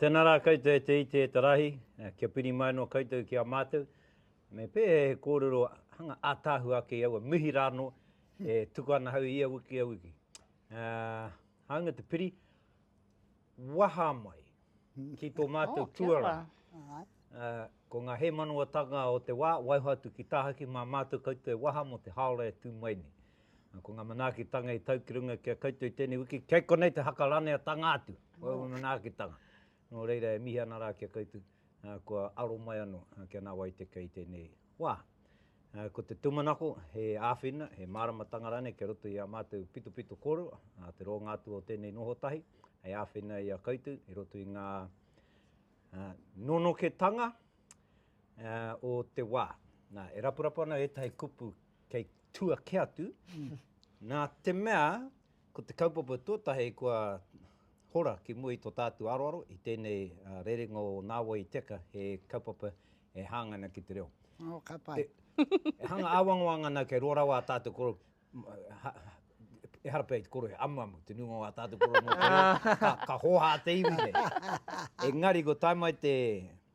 Tēnā rā koutou e te iti e te rahi, kia piri mai anō koutou ki a mātou. Me pēhea he kōrero hanga ātaahua ake i aua mihi rānō e tuku ana hau ia wiki, ia wiki. Hāunga te piri, waha mai, ki tō mātou tuarā. Ko ngā hēmanawatanga o te wā, waiho atu ki tāhaki mā mātou koutou e waha mō te haora e tū mai nei. Ko ngā manaakitanga i tau ki runga ki a koutou i tēnei wiki, kei konei te hakaraneatanga atu o aua manaakitanga. Nō reira e mihi ana rā ki a koutou, kua aro mai anō kia nā wai te kei tēnei. Wā. Ko te tūmanako, he āwhina, he māramatanga rānei kia roto i ā mātou pitopito kōrero, te rōnga atu o tēnei noho tahi, hei āwhina i a koutou i roto i ngā nonoketanga o te wā. Nā, e rapurapu ana ētahi kupu kei tua kē atu, nā te mea ko te kaupapa tuatahi kua hora ki mua i tō tātou aroaro i tēnei rerenga o Nāwai i Teka, he kaupapa e hanga ana ki te reo. Oh, ka pai. E, e hanga awangawanga ana kei roa rawa a tātou koro, ha, e hara pei te koro e amu amu, te nunga o a tātou koro mō te reo, ka, ka hoha te iwi nei. E ngari, ko tai mai te,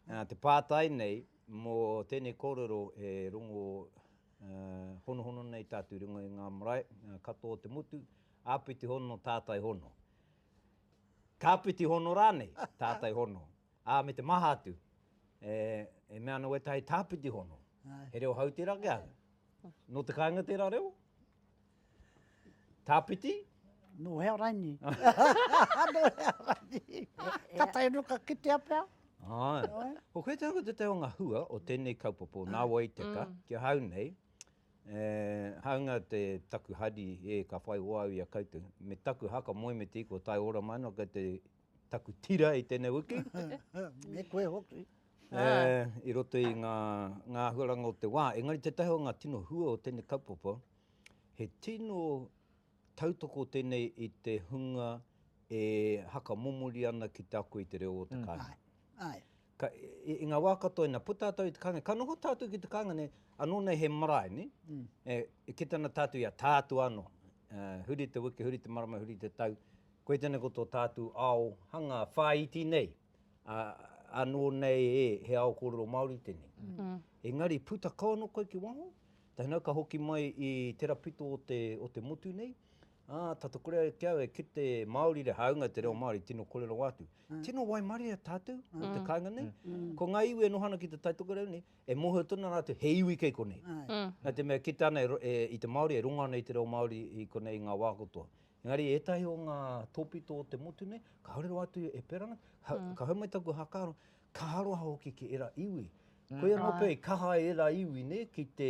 uh, te pātai nei, mō tēnei kōrero e rongo uh, honohono nei tātou ringo i ngā marae, uh, katoa te motu, āpiti hono, tātai hono. Kāpiti hono rānei, tātai hono. Ā, me te maha atu, e, e mea ana wētahi tāpiti hono, he reo hau tērā ki ahau. Nō te kāinga tērā reo? Tāpiti? Nō hea raini. Nō hea raini. Ka tae anō ka kitea pea. Āe. Ko koe te hanga te te o ngā hua o tēnei kaupapa, nā wai te ka, mm. ki ahau nei, Eh, hanga te taku hari e ka whai wāu i a koutou. Me taku haka moe me te iko tai ora mai no kei te taku tira i tēnei wiki. Me koe hoki. E, i roto i ngā, ngā ahuaranga o te wā. Engari te tahi o ngā tino hua o tēnei kaupapa, he tino tautoko tēnei i te hunga e haka momori ana ki te ako i te reo o te mm. kāinga. Ai. Ka, i, i ngā wā katoa ina puta tātou i te kāinga, ka noho tātou ki te kāinga nei, anō nei he marae, ne? Mm. E, e ki tana tātou ia tātua anō. E, huri te wiki, huri te marama, huri te tau. Koe tēnei ko tō tātou ao hanga whāiti nei. A, anō nei e, he ao kōrero Māori tēnei. Mm. Engari, puta kau anō koe ki waho, tainau ka hoki mai i tera pito o te, o te motu nei, Ā, tata kore ai ki au e kite Māori re hāunga te reo Māori tino kore rawa atu. Tino waimaria tātou o te kāinga nei. Ko ngā iwi e noho ana ki te taitokerau nei, e mōhio tonu rātou he iwi kei konei. Nā te mea kite ana i te Māori e runga ana i te reo Māori i konei i ngā wā katoa. Engari ētahi o ngā tōpito o te motu nei, kāore rawa atu e pērā ana, ka hau mai taku hakaaro, ka aroha hoki ki ērā iwi. Koia nō pea i kaha ai ērā iwi nei ki te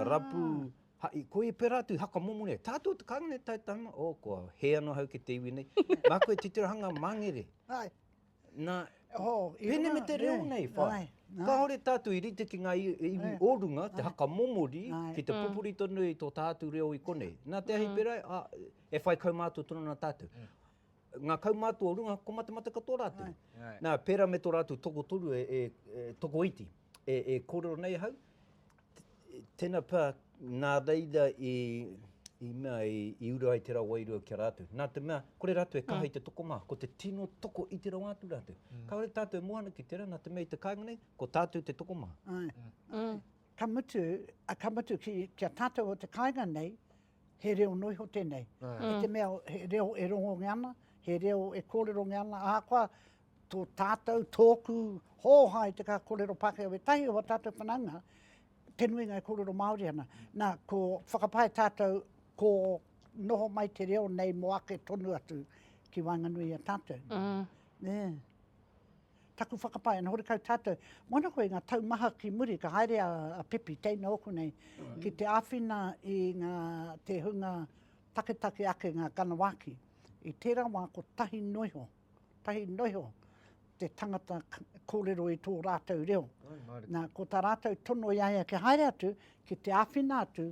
Rapu, haʻi, koe pera atu, haka momo nei. Tātou te kāinga nei, tae tāna, oh, kua hē anō hau ki te iwi nei. Nā koe titiraha māngere. Ai. Nā, pēnei me te reo nei, whae. Kāore tātou i rite ki ngā iwi o runga, te haka momori, ki te pupuri tonu i tō tātou reo i konei. Nā te ahi pērā, e whai kaumātua tonu ana tātou. ngā kaumātua o runga ko matemate katoa rātou. Nā, pērā me tō rātou tokotoru e, e, e tokoiti, e, e kōrero nei hau, tēnā pā, nā reira i, i mea, i, i ura ai te rā wairua ki a rātou. Nā te mea, kore rātou e kaha mm. i te toko mā, ko te tino toko i te rawa atu rātou. Mm. Ka ore tātou e mohana ki tērā, nā te mea i te kāinga nei, ko tātou te toko mā. Ai. Mm. Ai. Mm. Ka mutu, a ka mutu ki, ki a tātou o te kāinga nei, He reo noa iho tēnei. I te mea he reo e rongongia ana, he reo e kōrerongia ana, ahakoa tō tātou, tōku hōha i te kaha kōrero Pākehā, wētahi o ā tātou whanaunga, te nuinga e kōrero Māori ana. Nā, ko whakapae tātou, ko noho mai te reo nei mō ake tonu atu ki waenganui i a tātou. Mm. Yeah. Taku whakapae, ana horekau tātou, moana koe i ngā tau maha ki muri, ka haere a, a Pepi, teina ōku nei, ki te āwhina i ngā, te hunga taketake ake, ngā Ganawaki. I tērā wā, ko tahi noa iho, tahi noa iho te tangata kōrero i tō rātou reo. Nā, ko tā rātou tono i a ia kia haere atu, ki te āwhina atu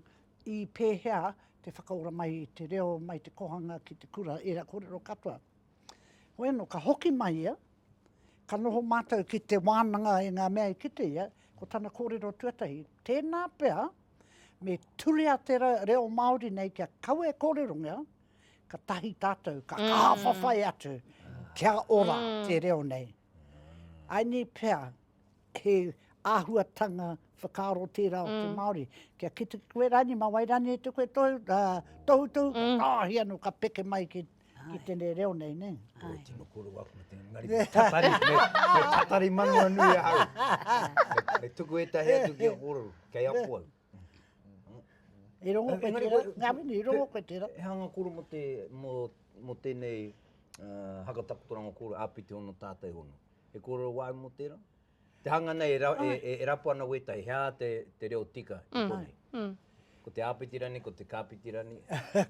i pēhea te whakaora mai i te reo, mai te kohanga ki te kura, ērā kōrero katoa. Hoeno, ka hoki mai ia, ka noho mātou ki te wānanga i ngā mea i kite ia, ko tana kōrero tuatahi, tēnā pea me turia te reo Māori nei kia kawe kōrerongia, ka tahi tātou, ka mm. kāwhawhai atu, kia ora mm. te reo nei. Ai ni pea, He āhuatanga whakaaro tērā o te Māori. Kia kite koe rānei, ma wai rānei te koe tohutohu, ka tāohi anō, ka peke mai ki tēnei reo nei, nē. Āe. Ko tino koroua aku mate ngari, me tatari, me tatari manawanui ahau. Me tuku ētahi atu ki a kōrero, kei apo au. I rongo koe tērā, ngā mini, i rongo koe tērā. He hanga koro mō te, mō, mō tēnei uh, haka takotoranga kōrero āpiti ono tātai ono. He kōrero wāi mō tērā? Te hanga nei e, ra, e, e, e rapu ana wētahi, hea te, te reo tika i mm. konei. Mm. Ko te āpiti rani, ko te kāpiti rani.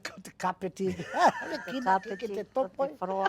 ko te kāpiti. Ki te kāpiti, ko te wharoa.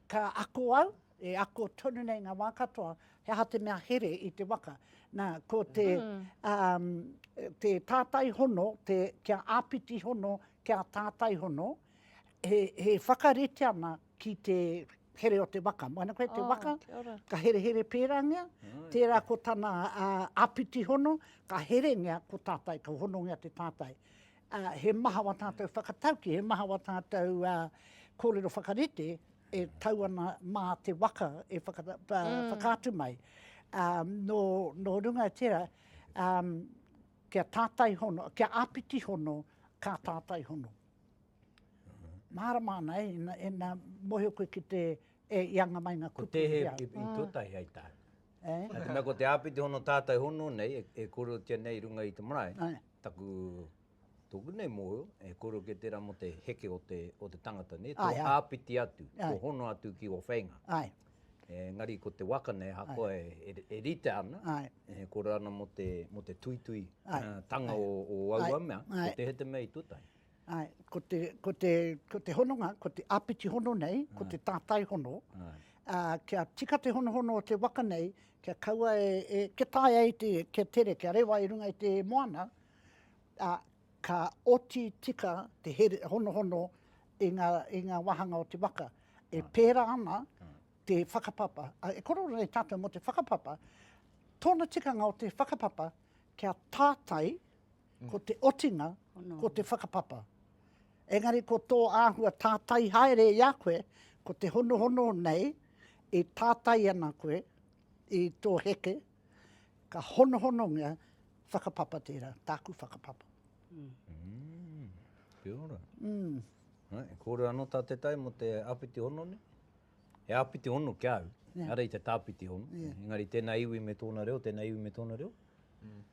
Ka ako au, e ako tonu nei ngā wā katoa, he aha te mea here i te waka. Nā, ko te, um, te tātai hono, te, kia āpiti hono, kia tātai hono, he, he whakarite ana ki te here o te waka. Moana koe te waka, ka herehere pērāngia, tērā ko tana uh, āpiti hono, ka herengia ko tātai, ka honongia te tātai. ā, he maha wā tātou whakatauki, he maha wā tātou kōrero whakarite e tau ana mā te waka e whakaatu mai. Nō runga i tērā, kia tātai hono, kia āpiti hono, ka tātai hono. Mārama ana, ina mōhio koe ki te i anga mai ngā kupu. Ko te he i tō tahi hei tā. Nā te mea ko te āpiti hono, tātai hono nei e kōrerotia nei i runga i te marae. Taku, tōku nei mōhio, e kōrero kē tērā mō te heke o te, o te tangata, nē, tō āpiti atu, tō hono atu ki ō wheinga. Āe. Engari ko te waka nei, ahakoa e, e rite ana, e kōrero ana mō te, mō te tuitui tanga o, o aua mea, ko te he te mea i tū tahi. Ae, ko te, ko te, ko te hononga, ko te apiti hono nei, ko te tātai hono, ā, kia tika te honohono o te waka nei, kia kaua e, e, kia tae ai te, kia tere, kia rewa i runga i te moana, ā, ka oti tika te here, honohono i ngā, i ngā wāhanga o te waka. E pērā ana te whakapapa, ā, e korero nei tātou mō te whakapapa, tōna tikanga o te whakapapa, kia tātai ko te otinga, ko te whakapapa. Engari ko tō āhua tātai haere i a koe, ko te honohono nei, e tātai ana koe i tō heke, ka honohonongia whakapapa tērā, tāku whakapapa. Mm. Mm. Kia ora. Mm. Hai, kōrero anō tā te tai mō te āpiti hono ne? He āpiti hono ki au, yeah. ara i te tāpiti hono. Yeah. Engari tēnā iwi me tōna reo, tēnā iwi me tōna reo. Mm.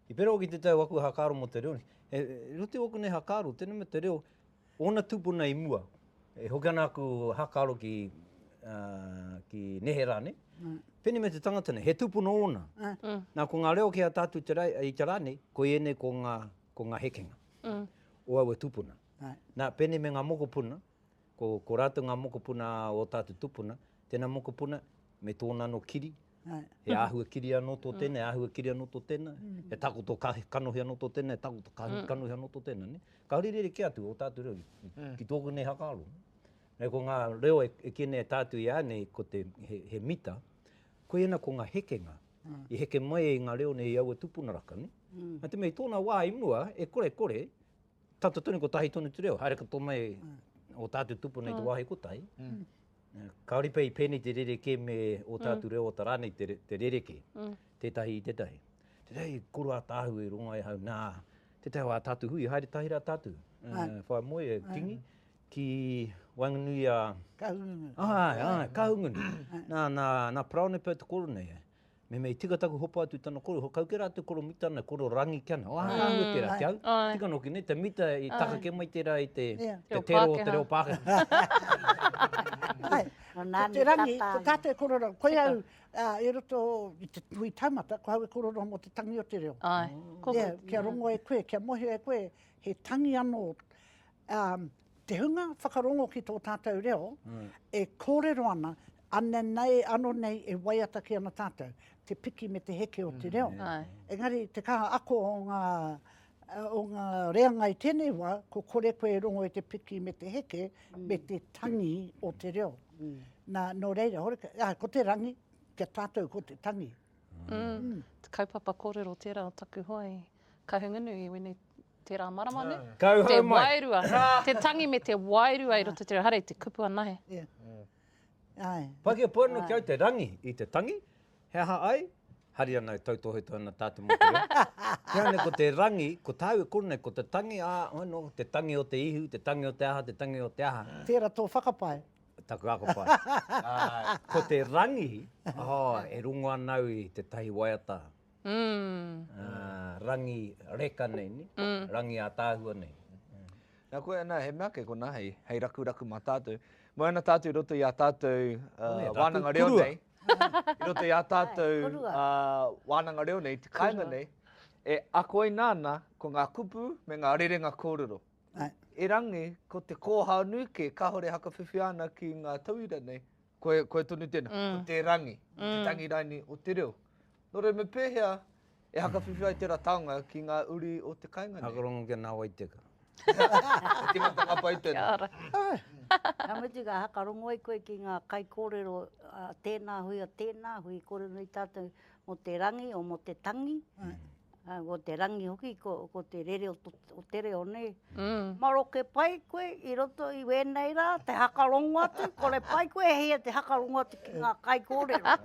I pera hoki te tau aku hakaaro mo te reo nei. E rite oku nei hakaaro, tenei me te reo, ona tupuna i mua. E hoki ana aku hakaaro ki ki nehera nei. Penei me te tangata nei, he tupuna ona. Na ko nga reo ki a tatu i te ra nei, ko enei ko nga ko nga hekenga. O aua tupuna. Na penei me nga mokopuna, ko ko ratou nga mokopuna o tatu tupuna, tena mokopuna me tona no kiri, He āhua kiri anō tō tēnā, he āhua kiri anō tō tēnā, he takoto kanohi anō tō tēnā, he takoto kanohi anō tō tēnā. Kāore i rerekē atu ō tātou reo ki tōku nei whakaaro. Nei ko ngā reo e kī nei e tātou i a nei ko te he mita, koiana ko ngā hekenga i heke mai i ngā reo nei i aua tūpuna raka. Nā te mea i tōna wā i mua e kore kore Tata tonu kotahi tonu te reo, haere katoa mai o tātou tupuna i te wāhi kotahi, kāore pea i pēnei te rerekē me o tātou reo o tā rānei te rerekē, tētahi i tētahi. Tētahi i koro ātaahu i rongo ai hau, nā, tētahi o ā tātou hui, haere tahi rā tātou, whai moe e Kingi, ki waenganui a. Kahungunu. Āe, āe, Kahungunu. Nā, nā, nā Paraone pea te koro nei. Me mea, i tika taku hopa atu tana koro, ho kau ke rā te koro mita nei, koro rangi ke ana. Oha ā hua tērā, te au, tika noki nei, te mita i taka ke mai tērā i te tero o te reo Pākehā. Ai, ko te rangi, ko tātou e korero, koe au i roto i te hui taumata, ko au e korero mō te tangi o te reo. Ai. Kia rongo e koe, kia mōhio e koe, he tangi anō. Te hunga whakarongo ki tō tātou reo e kōrero ana, anei nei, anō nei e waiata ki ana tātou, te piki me te heke o te reo. Engari te kaha ako o ngā, o ngā reanga i tēnei wā, ko kore koe e rongo i te piki me te heke, me te tangi o te reo. Nā, nō reira, horekau, ā, ko te rangi, kia tātou ko te tangi. Kaupapa kōrero tērā o taku hoa i. Kahungunu, i wene tera marama ne. Kauhau mai. Te wairua, te tangi me te wairua i roto i te reo hara i te kupu anahe. Yeah. Aye. Pakia po ano ki au te rangi i te tangi, he aha ai? Hari ana e tautohetohe ana ta te mokopuna. He aha nei ko te rangi, ko tau e koro nei, ko te tangi, a, ano, te tangi o te ihu, te tangi o te aha, te tangi o te aha. Tera to whakapae. Taku ako pae. Ko te rangi, oh, e rongo ana au i te tahi waiata. rangi reka nei, ne? rangi ātaahua nei. Nā koe ana, he mea kē kona hei, hei rakuraku mā tātou. Moe ana tātou i roto i ā tātou wānanga reo nei, i roto i ā tātou wānanga reo nei, te kāinga nei, e akoina ana ko ngā kupu me ngā rerenga kōrero. Erangi, ko te kōhao nui kē, kāore e hakawhiwhia ana ki ngā tauira nei, koe, koe tonu tēnā, ko te rangi, te tangi raini o te reo, Nō reira me pēhea e hakawhiwhi ai tērā taonga ki ngā uri o te kāinga nei? Hakarongo ki a Nā Wai Teka. He tīmata ngā pae tēnā. Kia ora. Ka mutu ka hakarongo ai koe ki ngā kaikōrero a tēnā hui, a tēnā hui, kore nui tātou mō te rangi o mō te tangi. Ko te rangi hoki, ko te rere o te reo nei. Maroke pai koe i roto i wēnei rā, te hakarongo atu, kore pai koe e hia te hakarongo atu ki ngā kaikōrero.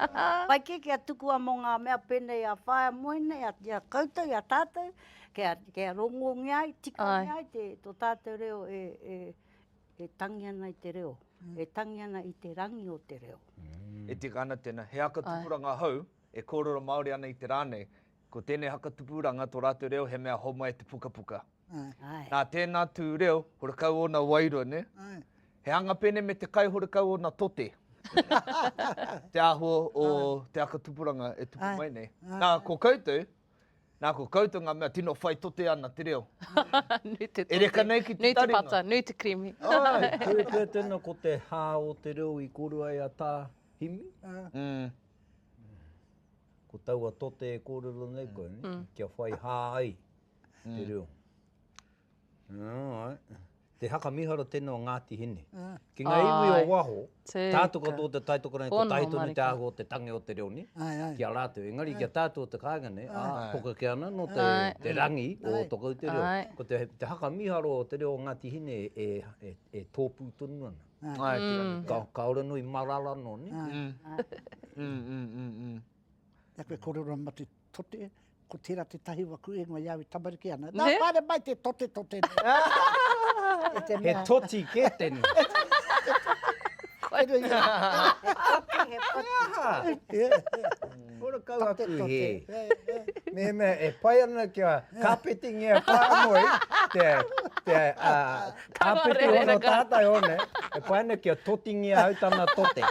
Pai kē kia tukua mō ngā mea pēnei a whāmoe nei, a koutou, a tātou, kia rongongia ai, tikangia ai tō tātou reo e tangi ana i te reo, e tangi ana i te rangi o te reo. E tika ana tēnā. He aka tupuranga hou e kōrero Māori ana i te rā nei, Ko tēnei haka tupuranga tō rātou reo he mea homai te pukapuka. Nā tēnā tū reo, horekau ōna wairua, nē? He anga pēnei me te kai horekau ōna tote. te āhua o te haka tupuranga e tupu mai nei. Nā, ko koutou, nā ko koutou ngā mea tino whai tote ana te reo. nui te tote. E reka nei ki te taringa. Nui te pata, nui te kirimi. Ai, kore pea tēnā ko te hā o te reo i korua e a tā Himi. Mm. Ko taua tote e kōrero nei koe, ne? Mm. kia whai hā ai mm. te reo. Alright. Te haka miharo tēnā o Ngāti Hine. Mm. Ki ngā iwi o waho, tātou katoa o te taitoka nei, ko taito nei te ahu o te tangi o te reo ni, ki a rātou. Engari ki a tātou o te kāinga nei, a poka ke ana no te, te rangi o tokau te reo. Ko te, te haka miharo o te reo o Ngāti Hine e, e, e tōpū tonu ana. Kaore nui marara no ni. Na koe korero ma te tote, ko tera te tahi wa ku ingoa iau i tamariki ana. Na pare mai te tote tote. He toti ke teni. He aha. Horakau aku he. Mehemea e pai ana kia kāpetingia whāngoi te āpiti hono tātai o ne, e pai ana kia totingia au tana tote.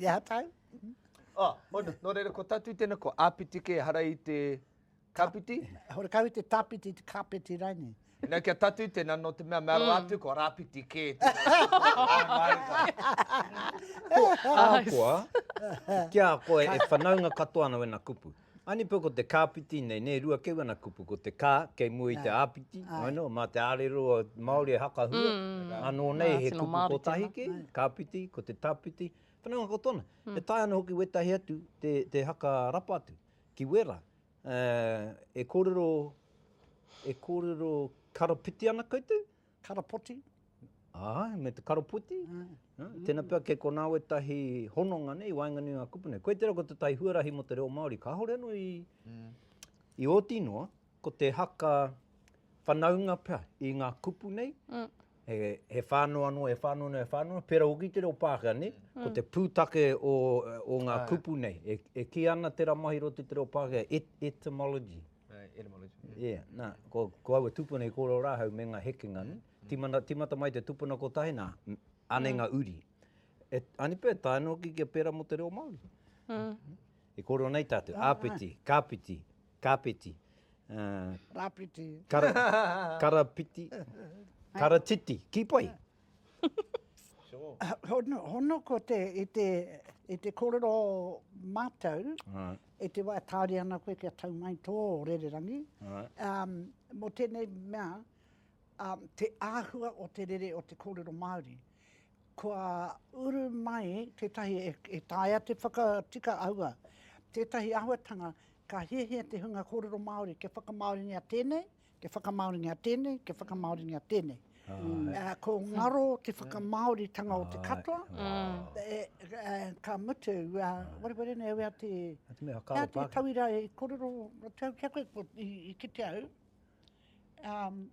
Ia tau. Oh, nō reira, ko tātou tēnā, ko āpiti kē, ehara i te. Kapiti? Hore kawe te tapiti, te kapeti raini. Nau kia tatu tena no te mea mea roa atu ko rapiti ke te Ahakoa, ki a koe e whanaunga katoa ana wena kupu. Anipou ko te kapiti nei, ne rua kei wena kupu, ko te ka kei mua i te apiti, I know, ma te arero Maori e hakahua, ano nei he kupu kotahi ke, kapiti, ko te tapiti, whanaunga katoa ana. E taea ana hoki wetahi atu te haka rapa atu. Ki Wera, e kōrero, e kōrero karapiti ana koutou? Karapoti. Āe, me te karapoti. Tēnā pea kei konā wētahi hononga nei i waenganui i ngā kupu nei. Koe tērā ko tētahi huarahi mō te reo Māori, kāore anō i, i oti noa. Ko te haka whanaunga pea i ngā kupu nei, he whānau anō, he whānau anō, he whānau anō, pērā hoki i te reo Pākehā, nē? Ko te pūtake o ngā kupu nei, e kī ana te rā mahi roti o te reo Pākehā, etymology. Etymology. Ia, nā, ko aua tūpuna i kōrero rāhau me ngā hekenga, nē? Tīmata mai te tūpuna kotahi, nā, anei ngā uri. Anei pea e taea ana hoki kia pērā mō te reo Māori. I kōrero nei tātou, āpiti, kāpiti, Kāpeti. Rāpiti. Kara, karapiti. Karatiti. Ki pai. hono, hono ko te, i te, i te korero mātou, right. i te wā tāri ana koe kia tau mai tō rererangi, right. um, mo tēnei mea, um, te āhua o te rere o te kōrero Māori. Kua uru mai tētahi e, e taia te whakatika aua, tētahi ahuatanga Ka hiahia te hunga kōrero Māori kia whakamāoringia tēnei, kia whakamāoringia tēnei, kia whakamāoringia tēnei. Ko ngaro te whakamāoritanga o te katoa. Ka mutu, wareware nei au i a te... I te mea, kāre pākehā. Kāre tauira i kōrero atu au ki a koe, i kite au.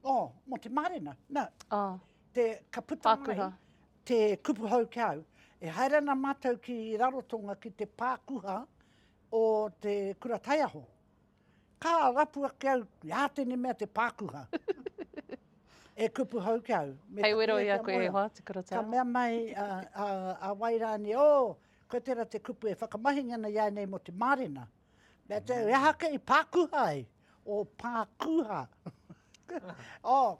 Oh, mō te mārena. Nā, ka puta mai te kupu hou ki a au. E haere ana mātou ki Rarotonga ki te pākuha o te kura taiaho. Ka rapu ake au, ia tene mea te pākuha. e kupu hau ki au. Me Hei wero ia koe e hoa, te kura taiaho. Ka mea mai a, a, a Wairani, o, oh, koe tera te kupu e whakamahinga na ia nei mo te mārena. Mea te, mm. e aha kei pākuha ai? O pākuha. o, oh,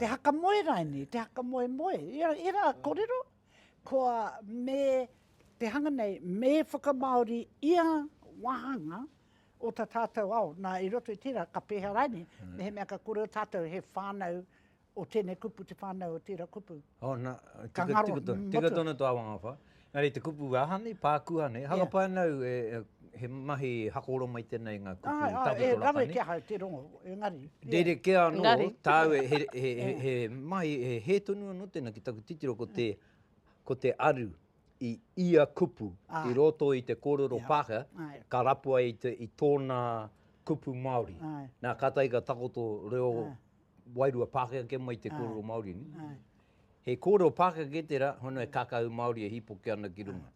Te haka moe raini, te haka moe moe. Ia, ia rā korero, koa me te hanga nei, me whakamāori ia wāhanga o ta tātou ao. Nā, i roto i tērā, ka pēhea raini, mehemea ka kōrero tātou he whānau o tēnei kupu, te whānau o tērā kupu. Oh, na, ka tika, ngaro, tika, tika tonu tō awangawha. Ngari, te kupu aha nei, pākua nei. Haka yeah. pānau, e, e, he mahi hakoro mai tēnei ngā kupu ah, ah, tāpito e, raka nei. E, rawe kia hai te rongo, e ngari. Yeah. Rere ke anō, ngari. tāu e, he, he, he, he, he mahi, he, he tonu anō tēnā ki taku titiro ko te, ko te aru i ia kupu ah. i roto i te kōrero yeah. pāka, ah, yeah. ka rapua i, te, i tōna kupu Māori. Ah. Nā, ka taika takoto reo ah. wairua Pākehā kē mai te kōrero Māori nei. He kōrero Pākehā kē tērā, hono he kākahu Māori e hīpoke ana ki runga.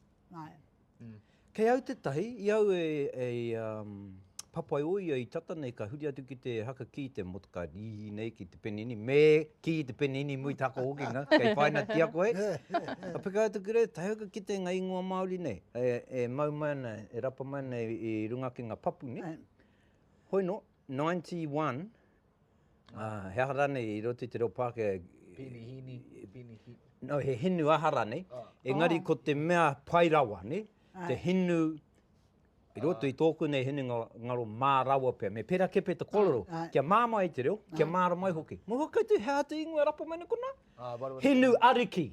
Kei au te tahi, i au e, e um, papai o ia i tata nei, ka huri atu ki te haka ki te motokai, i nei ki te penini, me ki te penini mui tako hoki nga, kei whaina ti ako hei. Ka peka atu ki rei, tahi ki te nga ingoa Māori nei, e, e mau mai ana, e rapa mai ana i, i runga ki nga papu nei. Hoi no, 91, Ā, he aha rānei i roto i te reo Pākehā e. Pini hini, pini hi. No, he hinu aha rānei. Oh. Engari oh. ko te mea pai rawa, ne? Ai. Te hinu I roto i tōku nei hinu ngaro mā rawa pia. Me pera kepe te kororo, ai, ai. kia mā mai te reo, kia mā ra mai hoki. Mō hoki tu, hea te ingoa rapa mai kona? Ah, hinu ariki.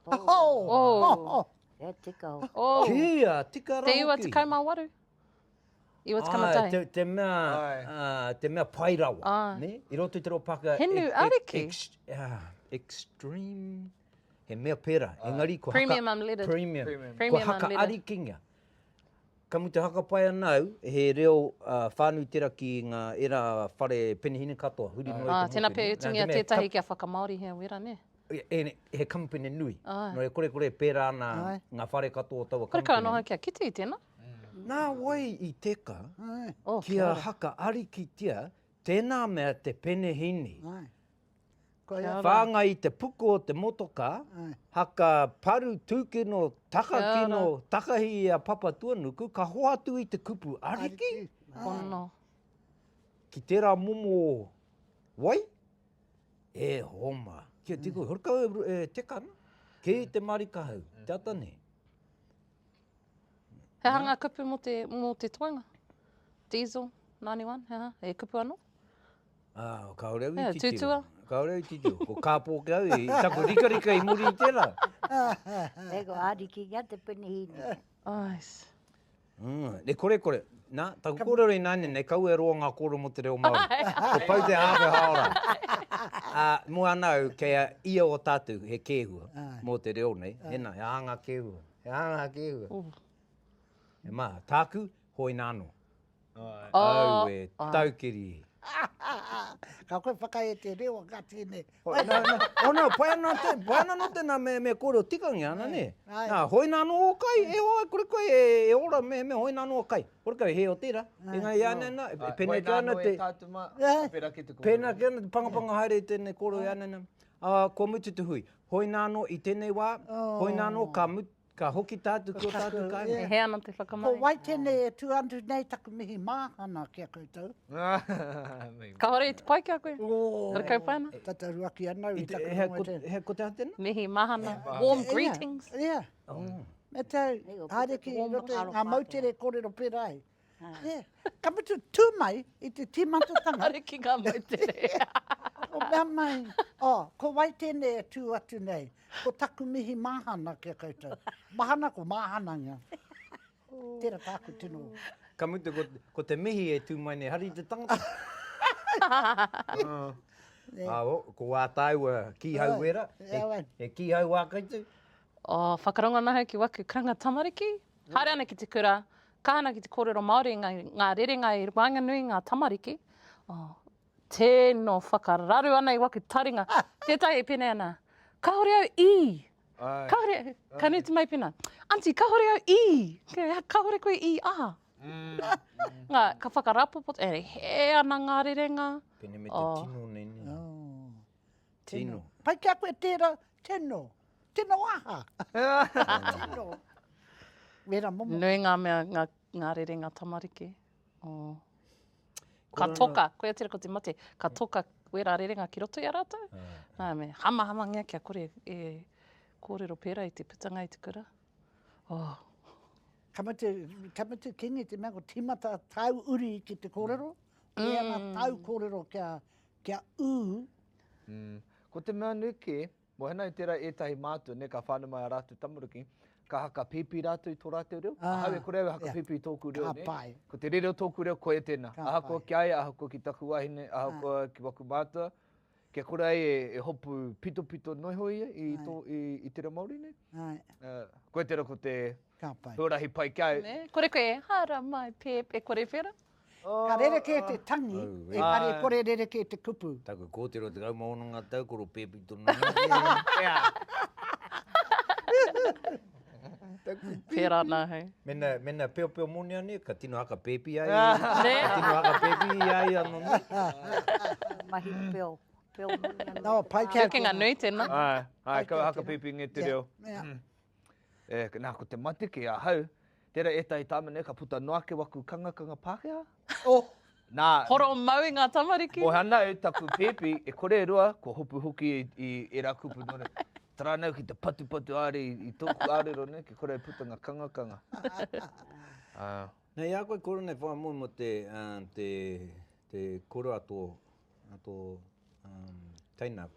Oh. Oh. Oh. Oh. Yeah, tika. Oh. Kia, tika ra hoki. Te iwa te kaimā waru. I was come a day. Ai, te mea, te mea pai rawa, ne? I roto i te reo Pākehā... He nu ariki. Extreme, he mea pērā, engari ko haka... Premium unleaded. Premium. Premium unleaded. Ko haka arikinga. Ka mutu haka pai ana au, he reo whānui tērā ki ngā era whare penihina katoa, huri noa i te motu. Tēnā pea e tungia tētahi kia whakamāorihia wera, ne? he kamupene nui. Nō e korekore e pērā ana ngā whare katoa o taua kamupene. Kore kau noa ki a Kite i tēnā. Nā wai i teka ki a Haka Arikitia tēnā mea te penehīni. Whāngai i te puku o te motokā, haka paru tūkino, takakino, takahi i a Papatuanuku, ka hoatu i te kupu, Ariki? Ki tērā momo wai? E homa. Kia tiku, horekau e teka ana. Kei te marika hau, te ata nei. He aha ngā kupu mō te, mō te toenga? Diesel, 91, he aha? E kupu anō? Ah, kāore au i yeah, titiro. Tūtua? Kāore au i titiro. Ko kāpō ki au, i taku rikarika i muri i tērā. Ego, āriki ki a te penihīni. Ais. Mm, ne kore kore. Na, ta ku kore rei nane, ne kau e roa nga kore mo te reo Māori. Ko pau te awe haora. A, mo ana au, kei a ia o tatu, he kehua, mo te reo nei. Ena, he aha nga kehua? He aha nga kehua? E ma, taku, hoina ano. Aue, taukiri. Ka koe whakae te reo, ka tēnei. Oh, no, no. Oh, no, pai ana, te, pai ana no tēnā me, me kōrero tikangia ana, nē. Nā, hoina anō o kai, e hoa, kore koe e, e ora, me, me hoina anō o kai. Kore koe, he o tērā. E ngai ana, nā, e pēnei ki ana te... Pēnā ki ana, pēnā ki ana, te pangapanga haere i tēnei kōrero e ana, nā. Uh, kua mutu te hui. Hoina anō i tēnei wā, oh. hoina anō ka mutu, Ka hoki tātu ki o tātu kāinga. E hē ana te whakamahi. Ko wai tēnei e tū atu nei taku mihi māhana ki a koutou. Kāore i te pai ki a koe. Rakau pai ana. Tata ruaki ana au i taku rongo i tēnei. He ko te aha tēnā? Mihi māhana. Warm greetings. Ia. Me te au, haere ki roto i ngā moutere kōrero pērā ai. He, ka mutu tū mai i te tīmatatanga. Are ki ngā moutere. Ko mea mai, oh, ko wai tēnei e tū atu nei? Ko taku mihi māhana ki a koutou. Mahana ko māhana ngia. Tēra tāku tino. Ka mutu ko, ko te mihi e tū mai nei, hari te tangata. uh, yeah. uh, ko wā tāua kīhau wera, yeah, e, e kīhau wā koutou. Oh, whakarongo nahu ki waku karanga tamariki. Haere ana ki te kura, kaha ana ki te kōrero Māori, ngā, ngā rerenga i waenganui i ngā tamariki. Oh, tēno whakararu ana i waku taringa. Tētahi e pēnei ana, kāore au i! Ai. Kāore, ka nuti mai pēnā, Aunty, kāore au i! Kāore koe i a! Ngā, ka whakarapopo, e hē ana ngā rerenga. Pēnei me te tino nei, nē. Oh, tēno. Pai ki a koe tērā, tēno. Tino aha? Tino. Wera momo. Nui nga mea, nga, nga rerenga tamariki. Oh. Ka toka, koia tira ko te mate, ka toka wera rerenga ki roto i a ratou. Uh. Ah. Nā me, hama hama ngia kia kore e kōrero pērā i te putanga i te kura. Oh. Ka mutu, ka mutu kingi te mea ko timata tau uri ki te kōrero. Mm. E ana tau kōrero kia, kia ū. Mm. Ko te mea nui ke, Mohena i tera etahi mātua ne ka whanu mai a ratu tamaruki, ka haka pipi rātou i to rātou reo, ahau e kore au e haka pipi i tōku reo ne, ko te rere o tōku reo koia tēnā, ahakoa ki a ia, ahakoa ki taku wahine, ahakoa ki waku mātua, kia kore ai e hopu pitopito noa iho ia i to, i te reo Māori nei. Koia tera ko te huarahi pai ki a au. Kore koe e hara mai, pēp, e kore whera? Ka rerekē te tangi, engari kore rerekē te kupu. Taku kōtiro tekau mā ono ngā tau, kore pēpi tonu ana. Mēnā peopeo mōne anei, ka tino haka pēpi ai. Ka tino haka pēpi i a ia anō nei. Mahi peo, peo mōne anō. Nō, pai kē. Hekenga nui tēnā. Ai, ai, kau haka pēpi ngē te reo. Nā, ko te mate kē ahau, Tērā ētahi tāmane ka puta noa ake waku kangakanga Pākehā. Oh! Nā. Horo mau i ngā tamariki. Moe ana e taku pēpi, e kore e rua, kua hopu hoki i ērā kupu nō reira. Tara nau ki te patupatu haere i tōku ārero nei, kia kore e puta ngā kangakanga. Ah. Nei a koe koro nei whai moe mo te te te koro a to a to um teina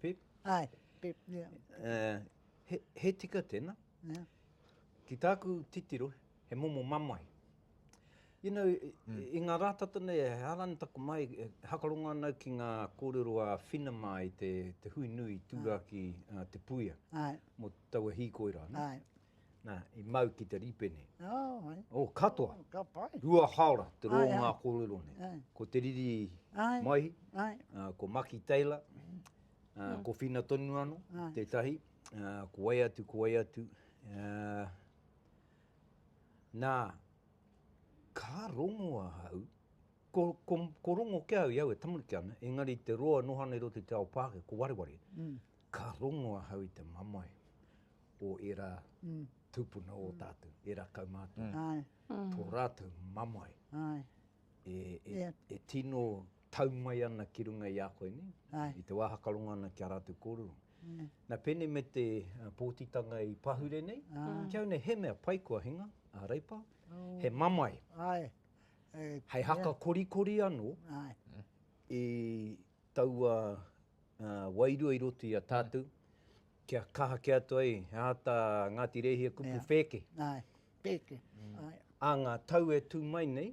pip. Ai, pip, yeah. Eh, he tika tena. Ki tāku titiro, he momo mamae. You know, i ngā rā tata nei, he hārani taku mai, e hakarongo ana au ki ngā kōrero a Whina mā i te hui nui i tūrā ki Te Puia mō taua hīkoi rā. Nā, i mau ki te rīpene. Oh, katoa. Ka pai. Rua haora te rō ngā kōrero nei. Ko Te Riri Maihi, ko Maki Taylor, ko Whina tonu anō, tētahi. uh, ko wai atu, ko wai atu. Uh, nā, ka rongo ahau, ko, ko, ko rongo ke au, iau e tamariki ana, engari te roa nohana i roto te ao pāke, ko wareware. Mm. Ka rongo ahau i te mamae o era mm. tupuna o mm. tātou, era kaumātua. Mm. Ai. Mm. Tō rātou mamae. Ai. e tino tau mai ana ki runga i a koe nei, i te wā hakarongo ana ki a rātou kōrero. Nā, pēnei me te pōtitanga i pahure nei, ki au nei he mea pai kua hinga, a Reipa, he mamae, hei haka korikori anō i taua wairua i roto i a tātou, kia kaha kē atu ai he aha tā Ngāti Rēhia kupu pēke. Āe, pēke. Ā ngā tau e tū mai nei,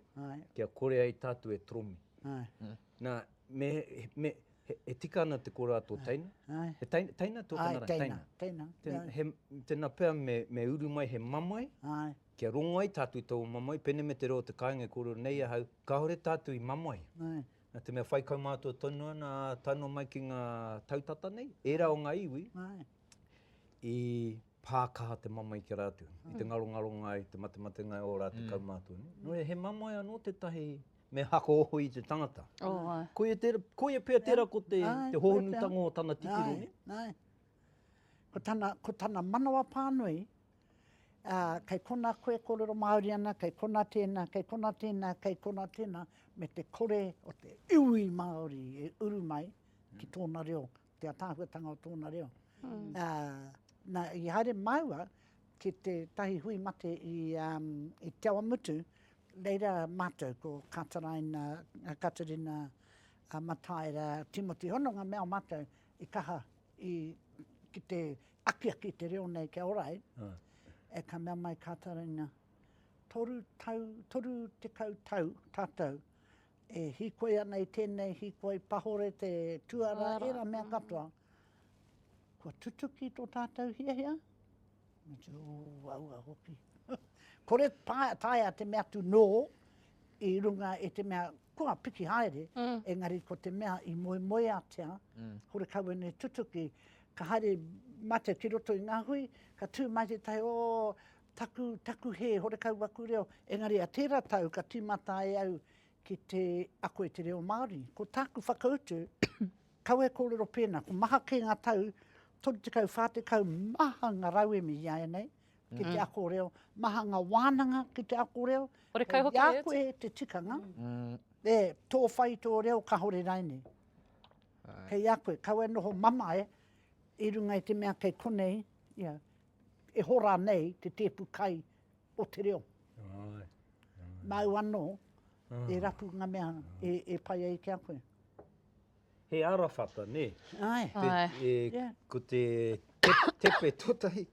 kia kore ai tātou e toromi. Āe. Nā, me, me, e tika ana te kora tō teina? Āe. He teina, teina tō tana rā? Āe, teina, teina. Tēnā, he, tēnā pea me, me uru mai he mamae. Āe. Kia rongo ai tātou i tō mamae, pēnei me te reo o te kāinga e kōrero nei ahau, kāore tātou i mamae. Āe. Nā te mea whai kaumātua tonu ana a Tano mai ki ngā tau tata nei, ērā o ngā iwi, i pā kaha te mamae ki a rātou, i te ngarongaronga ai, te matematenga ai o ō rātou kaumātua. Nō reira, he mamae anō tētahi me hako oho i te tangata. Koia pea tērā ko te hohonutanga o tana titiro. Ko tana manawa pānui, ā, kei konā koe e kōrero Māori ana, kei konā tēnā, kei konā tēnā, kei konā tēnā, me te kore o te iwi Māori e uru mai ki tōna reo, te ātaahuatanga o tōna reo. Ā, nā, i haere māua ki tētahi hui mate i, ā, i Te Awamutu, reira mātou ko Kātaraina, Katerina Mataira, Timoti Hononga me ā mātou i kaha i, ki te akiaki te reo nei kia ora ai, e ka mea mai kā Taraina, toru tau, toru tekau tau tātou e hīkoi ana i tēnei hīkoi pahore te tuara, ērā mea katoa, kua tutuki tō tātou hiahia, Me te uaua hoki. Kore taea te mea atu nō i runga i te mea kua piki haere, engari ko te mea i moemoeatia, kore kau ēnei tutuki, ka haere mate ki roto i ngā hui, ka tū mai tētahi, oh, taku, taku hē, horekau aku reo. Engari a tērā tau ka tīmata ai au ki te ako i te reo Māori. Ko tāku whakautu, Kau e kōrero pēnā, ko maha kē ngā tau 30, 40, maha ngā rauemi i āianei ki te ako reo, maha ngā wānanga ki te ako reo, kei a koe te tikanga, e, tō whai, tō reo, kāore rainei. Kei a koe, kaua e noho mamae i runga i te mea kei konei, ia, e hora nei te tēpu kai o te reo. Māu anō e rapu ngā mea e pai ai ki a koe. He arawhata, nē? Āe. Āe. Ko te tepe tōtahi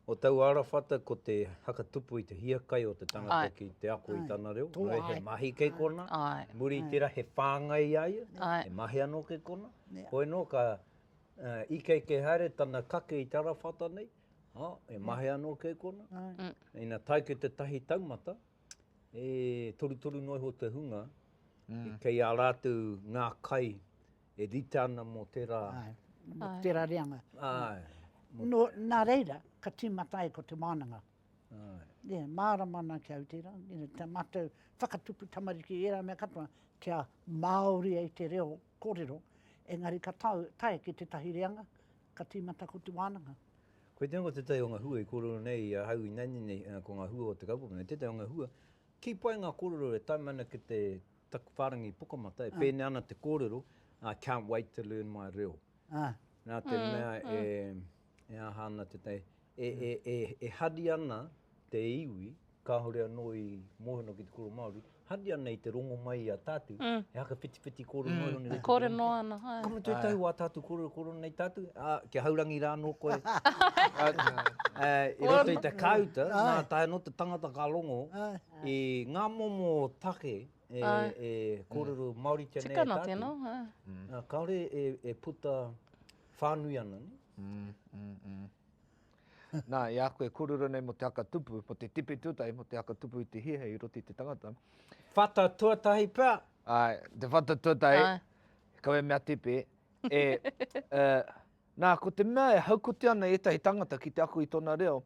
o taua arawhata ko te whakatupu i te hiakai o te tangata ki te ako i tana reo. Āe. He mahi kei kona. Āe. Muri i tērā he whāngai i a ia. Āe. He mahi anō kei kona. Āe. Hoi anō ka ikeike haere tana kake i te arawhata nei. He mahi anō kei kona. Āe. Ina tae ki te tahi taumata, e torutoru noa iho te hunga, mm. kei a rātou ngā kai e rita ana mō tērā... Ai, mō tērā reanga. Ai. No, nā reira, ka tīmata ai ko te mānanga. Ai. Yeah, mārama ana ki Aoteara, you know, te mātou whakatupu tamariki i ērā mea katoa, kia Māori ai te reo kōrero, engari ka tau, tae ki tētahi reanga, Ka tīmata ko te wānanga. Koe tēnā ko tētahi o ngā hua i kōrero nei i ahau ināianei nei, ko ngā hua o te kaupapa nei, tētahi o ngā hua, kī pai ngā kōrero e tae mai ana ki te taku whārangi pukamata, e pēnei ana te kōrero, I can't wait to learn my reo. Nā te mea e aha ana tētahi, e hari ana te iwi, kāore anō i mōhio ki te kura Māori, hari ana i te rongo mai i a tātou, he haka whitiwhiti kōrero noa iho nei rā. Kōrero noa ana, āe. Ka mutu e tau wā tātou kōrero, kōrero nei tātou, ā, kia haurangi rā anō koe. I roto i te kāuta, nā tae anō te tangata ka rongo i ngā momo take e kōrero Māoritia nei e tātou. Tikana tēnā, āe. Kāore e puta whānui ana, nē? Nā, i a koe kōrero nei mō te haka tupu, mō te tipi tuatahi, mō te haka tupu i te hīhei i roto i te tangata. Whata tuatahi pea. Āe, te whata tuatahi, kawe mea tipi, e, e, nā, ko te mea e haukotia ana ētahi tangata ki te ako i tōna reo,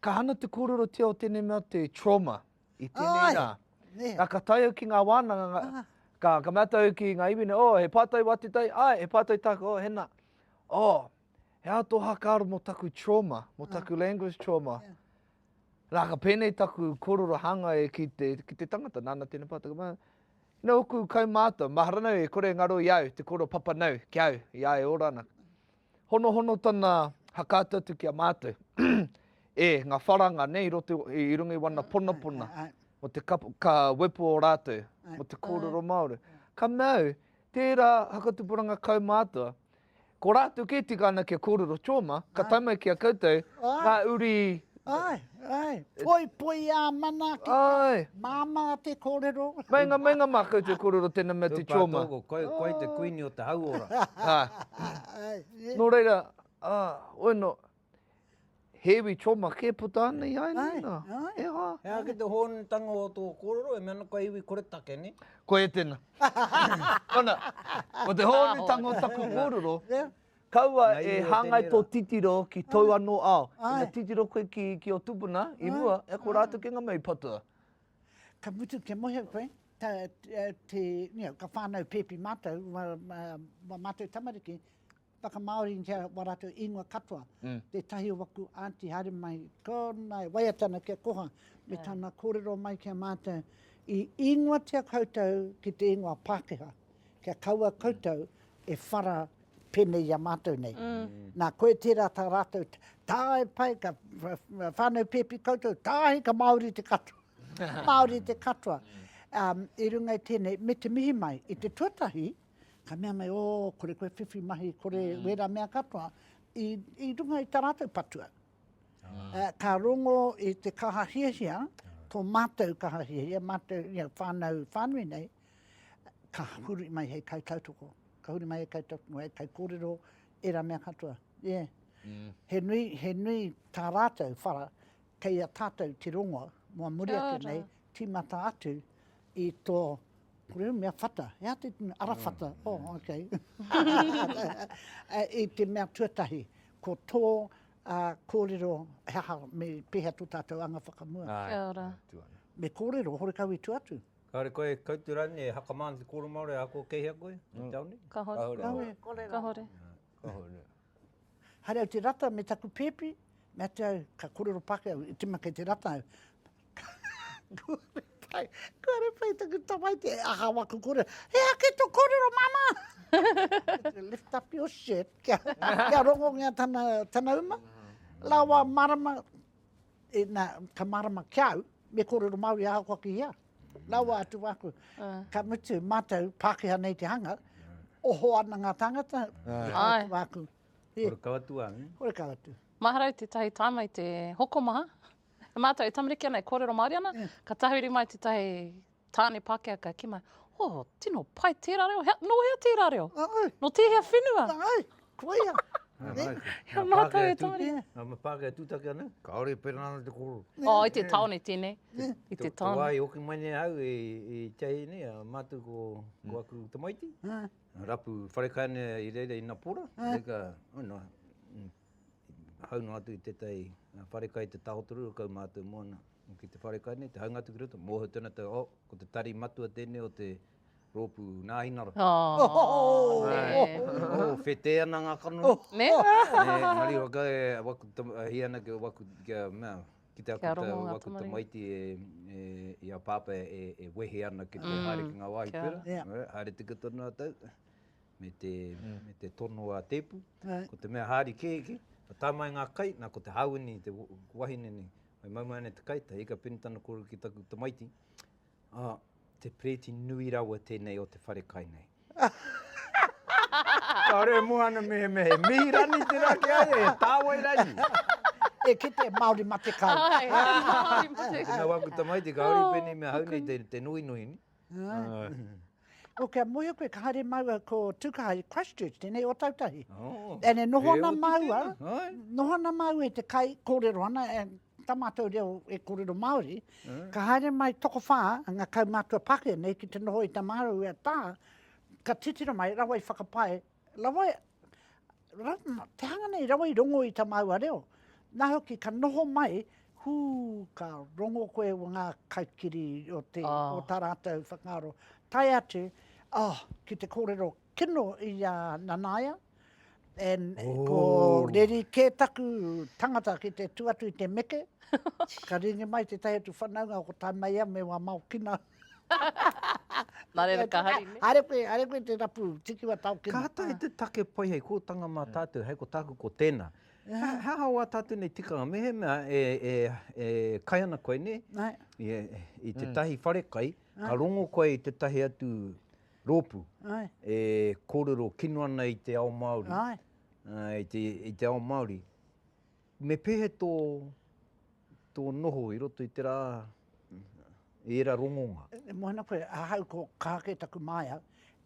ka hana te kōrerotia o tēnei mea te trauma i tēnei rā. Āe. Nā, ka tae au ki ngā wānanga, ka, ka mea au ki ngā iwi nei, oh, he pātai wā te tai? Āe, he pātai tāku, oh, he nā. Oh, he aha tō hakaaro mō taku trauma, mō taku language trauma. Yeah. Rā ka pēnei taku korora hanga e ki te, ki te tangata, nāna tēnei pātaka mā. Nā oku kaumātua, mahara nau e kore ngaro i au, te koro papa nau ki au, i a e ora ana. Hono hono tana hakaatu atu ki a mātou. e, ngā wharanga nei, roto, i rungi wana pona pona. Ai, ai, ai mo te ka, ka wepo o rātou, mo te kōrero Māori. Ka mau, tērā hakatupuranga kaumātua, Ko rātou kē tika ana kia kōrero Choma, ka tae mai ki a koutou ngā uri... Āe, āe, poipoi ā manaaki, māmā te kōrero. Meinga, meinga mā koutou kōrero tēnā mea te Choma. Tū pātō, koe, koe te kuini o te hauora. Nō reira, ā, ueno, He iwi toma kē puta ana i Airena. Āe, āe. E hā. He aha ki te hōnutanga o tō kōrero, e mea ana kua iwi koretake, nē? Ko e tena. Kona, ko te hōnutanga o taku kōrero, kaua e hāngai tō titiro ki tōu anō ao. Ina titiro koe ki, ki ō tupuna i mua, e ko rātou kē ngā mea i patua. Ka mutu kia mohe koe, ka whānau pēpi mātou, wā mātou tamariki, Whakamāoritia wā rātou ingoa katoa, tētahi o waku Aunty haere mai, ko nā e waiata ana kia koha, me tana kōrero mai ki a mātou, i ingoatia koutou ki te ingoa Pākehā, kia kaua koutou e whara pēnei i a mātou nei. Nā, koe tērā tā rātou tāe pai, ka whānau pēpi koutou, tāe ka Māori te katoa. Māori te katoa. I runga i tēnei, me te mihi mai, i te tuatahi, Ka mea mai, o, kore koe whiwhi mahi, kore mm. wera mea katoa, i, i runga i tā rātou patua. Uh, ka rongo i te kaha hiahia, ah. tō mātou kaha hiahia, mātou ia whānau whānui nei, ka huri mai hei kai tautoko. Ka huri mai hei kai tautoko, hei kai kōrero, e rā mea katoa. Yeah. Mm. He, nui, he nui tā rātou whara, kei a tātou te rongo, mua muri atu nei, tīmata atu, I to kore mea whata, he aha te tino, ara whata, oh ok. I te mea tuatahi, ko to korero he aha, me pehea to tatou anga whakamua. Kia ora. Me korero, horekau i tu atu. Kare koe e kautu ranei e hakama ana te koro Maori ako kei hea koe? Kahore. Kahore. Haere au te rata me taku pepi, me atu au, ka korero Pakea au, i tima kei te rata au. Kua repai taku tamaiti, e aha wa ku korero, he ake to korero mama! Lift up your shirt, kia rongongia tana uma. La wa marama. Ina, ka marama ki au, me korero Maori ahakoa ki ia. Rawa atu waku, ka mutu, matou, Pakeha nei te hanga, oho ana nga tangata, rawa atu waku. Horekau atu a. Horekau atu. Mahara i tetahi taima i te hokomaha, e matou e tamariki ana, e korero Maori ana, ka tahuri mai tetahi Tāne Pākehaka ki mai, Oh, tino pai tērā reo, hea, nō hea tērā reo? Nā au. Nō tēhea whenua? Nā au, koia. Hea mātou e tāria. Nā mā Pākehā tūtaki anō? Kāore pērā nā te koro. Oh, i te tāone tēnei, i te tāone. Tō wāhi hoki mai nei ahau e, e Teahī nei, a mātou ko, ko mm. aku tamaiti. Rapu wharekainea i reira i Napora. Reika, oh, no, hau noa atu i tētahi wharekai te tahotoru kau mātou moana ki te wharekai nei, te haunga atu ki roto, mōhau tēnā tau, oh, ko te tari matua tēnei o te rōpū nāhinara. Oh, oh, oh, oh, oh, whetē ana ngā kanohi. Oh. Ne? ne, ngari waka e waku tamaiti ana ki waku, ki a mea, ki te aku tau waku tamaiti e, e, i a pāpā e, e wehe ana ki te mm. haere ki ngā wāhi pera. Yeah. Haere tika tonu a tau. me te, me te tono a Tepu. Right. Ko te mea haari kēkē, ka tae mai ngā kai, nā ko te hāwini, te wahine nei, mai mau mai ana te kai, te hika penitana kōrero ki taku tamaiti, ah, te pereti nui rawa tēnei o te whare kai nei. Ka re mua ana me he me he mihi rani te rā ki ai, e tāwai rani. e kite Māori ma te kai. Ai, Māori ma te kai. Nā waku tamaiti, ka hori pēnei mea hau nei te, te nui nui ni. Oh, kia mohio koe, ka haere maua ko Tukaha i Christchurch, tēnei Otautahi. Oh, e ne noho ana maua, noho ana maua e te kai, kōrero ana, e, tā mātou reo e kōrero Māori, eh. ka haere mai toko whā, ngā kaumātua Pākehā nei ki te noho i Tamāraua tā, ka titiro mai, rawa i whakapae, Rawa, te hanga nei rawa i rongo i ta maua reo, na hoki ka noho mai, hu, ka rongo koe o nga kaikiri o te, o ta ratou whakaaro, tae atu, oh, ki te korero kino i a Nanaia, and ko reri ke taku tangata ki te tu atu i te meke, ka ringi mai tetahi atu whanaunga ko Tamaia me wa Maokina. Nā reira ka hari nei. Haere koe, haere koe te rapu, tiki wa tau kena. Ka tae te take pai hei kōtanga mā tātou, hei ko tāku ko tēnā. He aha wā tātou nei tikanga? Mehemea e kai ana koe nei, i tētahi wharekai, ka rongo koe i tētahi atu rōpū e kōrero kino ana i te ao Māori, i te ao Māori. Me pehe tō, tō noho i roto i te rā, i ērā rongonga? E moe ana koe, ahau ko Ka Hake taku māia,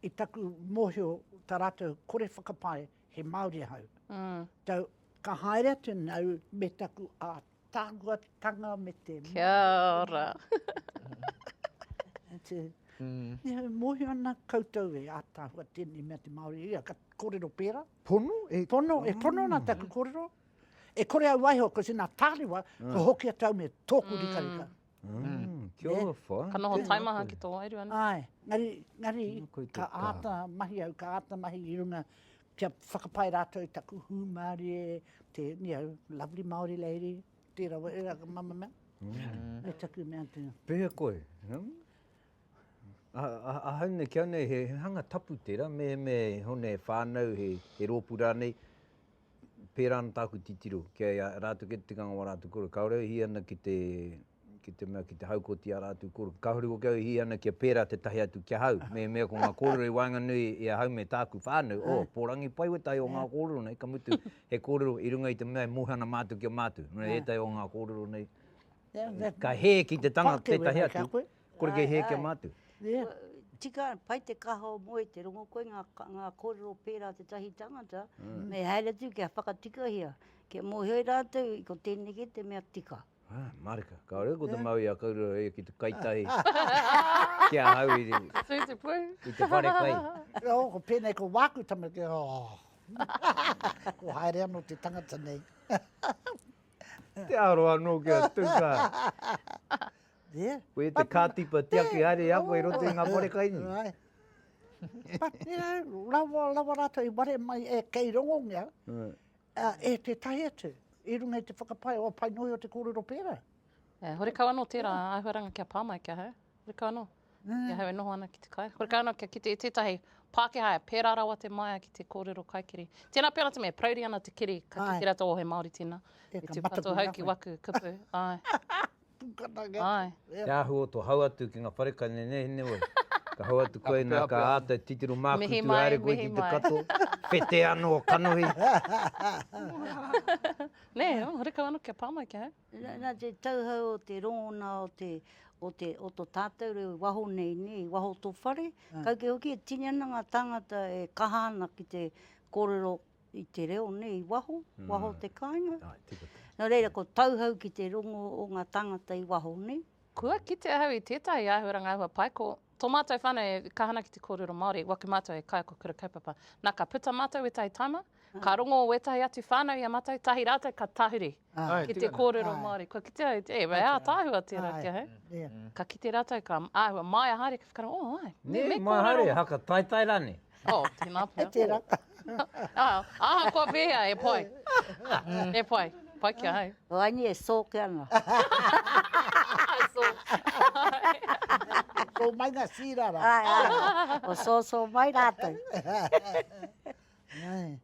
i taku mōhio tā rātou kore whakapae he Māori ahau. Tau, ka haere atu nāu me taku ātaahuatanga me te mōhio. Kia ora. Nihau mōhio ana koutou e ātaahua tēnei mea te Māori, ia ka kōrero pērā. Pono e. Pono e, pono na taku korero. E kore au waiho, ko sina tārewa, mm. ko hoki atu au me tōku rika rika. Mm. Mm. Kia ora eh? wha. Ka noho taimaha ki tō wairu anu. Ai, ngari, ngari, ka āta mahi au, ka āta mahi i runga kia whakapai rātou i taku hū Māori e te, you know, lovely Māori lady, tērā wa, era ka mama mea. Mm. E taku mea tēnā. Pēhea koe? Hmm? Ahau nei, ki au nei, he hanga tapu tērā, me, me hone whānau, he, he rōpū rānei, pērā ana tāku titiro, ki a ia rātou, ki te tikanga o ā rātou koroua. Kāore au e hī ana ki te, ki te mea, ki te haukoti ā rātou koroua. Kāore hoki au e hī ana kia pērā tētahi atu ki ahau, me, me ko ngā kōrero i waenganui i ahau me tāku whānau, oh, pōrangi pai wētahi o ngā kōrero nei, ka mutu, he kōrero i runga i te mea e mohi ana mātou ki a mātou. Nō reira, ētahi o ngā kōrero nei, ka hē ki te tangata tētahi atu. Kore kei hē kia mātu. Tika, pai te kaha o Moe, te rongo koe ngā, ngā kōrero pērā te tahi tangata, me haere atu kia whakatikahia, kia mōhio rātou i ko tēneki te mea tika. Ā, mārika. Kāore ko te Māui a Kaurura e ki te kai tahi ki a hau i te, i te whare kai. Ō, ko pēnei ko wāku tamariki, ō, kua haere anō te tangata nei. Te aro anō kia tuka. There. Koe te kātipa tiaki haere i a koe i roto i ngā parekaini. But, you know, rawa, rawa rātou i ware mai e kei rongongia e tētahi atu, i runga i te whakapae o Painohi o te kōrero pērā. Yeah, horekau anō tērā āhuaranga kia pā mai ki ahau. Horekau anō. Ki ahau e noho ana ki te kai. Horekau anō kia kite i tētahi Pākehā e pērā rawa te māia ki te kōrero kaikiri. Tēnā pea rātou me prauri ana te kiri ka kite rātou o he Māori tēnā. E tū katoa hau ki waku kupu. Āe. Pukana ke atu. Ai. Te ahu o to hau atu ki nga whare ka nenehne wai. Ka hau atu koe na ka ata e titiro makutu mihi mai, haere koe ki te kato, whete ano o kanohi. Ne, oh horekau ano kia pa mai kia hau. Na te tauhou o te rongona o te o te o to tatou reo i waho nei ne, i waho o to whare, kau kē hoki e tini ana nga tangata e kaha ana ki te korero i te reo nei i waho, waho te kāinga. Nō reira, ko Tauhou ki te rongo o ngā tāngata i waho nei. Kua kite ahau i tētahi āhuaranga ahua pai, ko tō mātou whānau e kaha ana ki te kōrero Māori, waki mātou e kai ko Kura Kaupapa. Nā, ka puta mātou wētahi taima, ka rongo wētahi atu whānau i a mātou, tahi rātou ka tahuri. Ki te kōrero Māori, kua kitea, e, wei ātaahua tērā kia hei. Ka kite rātou, ka āhua, māia haere ki whakaaro, oh, ai, me kōrero. Nē, māia haere, haka taetae rānei. Oh, tēnā pea. E tērā. Aha koa pēhea, e pai. E pai, pai kia hei. O aini e sōke ana. Sō mai ngā sīra rā. Ai, ai, o sō sō mai rātou. Ai.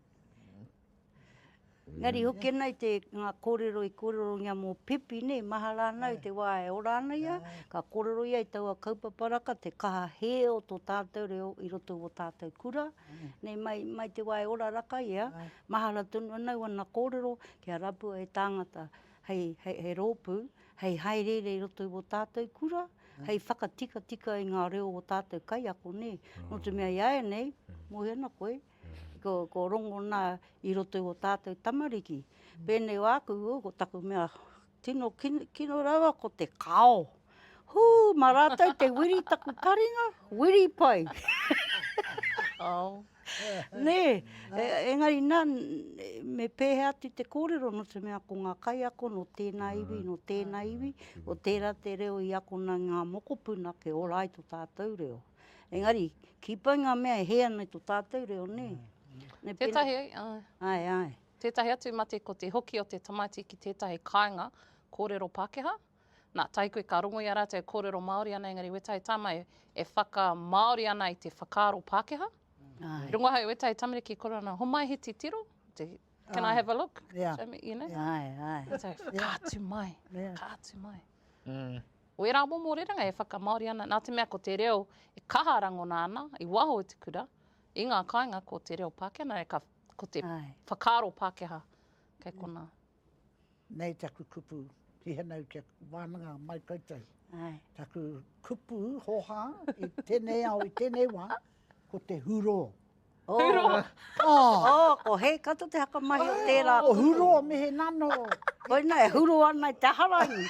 Engari hoki ana i te ngā kōrero i kōrerongia mō Pipi, nē, mahara ana i te wā e ora ana ia, ka kōrero ia i taua kaupapa raka, te kaha hē o tō tātou reo i roto i wō tātou kura, nē, mai, mai te wā e ora raka ia, mahara tonu ana wana kōrero kia rapua e tāngata hei, hei, hei rōpū, hei hāereere i roto i wō tātou kura, hei whakatikatika i ngā reo o tātou kaiako, nē. Nō te mea i āianei, mōhio ana koe, Ko Rongona i roto i o tātou tamariki. Pēnei o aku, ko taku mea tino kino rawa ko te kao. Hū, ma rātou te wiri taku taringa, wiri pai. Ao. Nē, e, engari nā, me pēhea atu te kōrero no te mea ko ngā kaiako no tēnā mm. iwi, no tēnā mm. iwi, o tērā te reo i akona ngā mokopuna ke ora ai to tātou reo. Engari, ki pai ngā mea e hē ana i tō tātou reo, nē? Nē, pēnā... Tētahi, āe. Āe, āe. Tētahi atu mate ko te hoki o te tamaiti ki tētahi kāinga kōrero Pākehā. Nā, tahi koe ka rongo i a rātou e kōrero Māori ana, engari wētahi tama e, e whakamāori ana i te whakaaro Pākehā. Āe. Rongo ahau i wētahi tamariki e kōrero ana, homai he titiro, te, can I have a look? Yeah. Show me, you know? Āe, āe. Wētahi, ka atu mai, ka atu mai. Mm. Wērā momo rerenga e whakamāori ana, nā te mea ko te reo e kaha rangona ana i waho i te kura, i ngā kāinga ko te reo Pākehā, nā reira ko te Ai. whakaaro Pākehā kei konā. Nei taku kupu, hihanau kia wānanga mai koutou. Ai. Taku kupu, hoha, i tēnei ao, i tēnei wā, Ko te hurō. Hurō. Oh, ko hei kato te haka mahi o tērā kupu. Ko hurō me he nano. Koina e hurō ana i te aha rangi.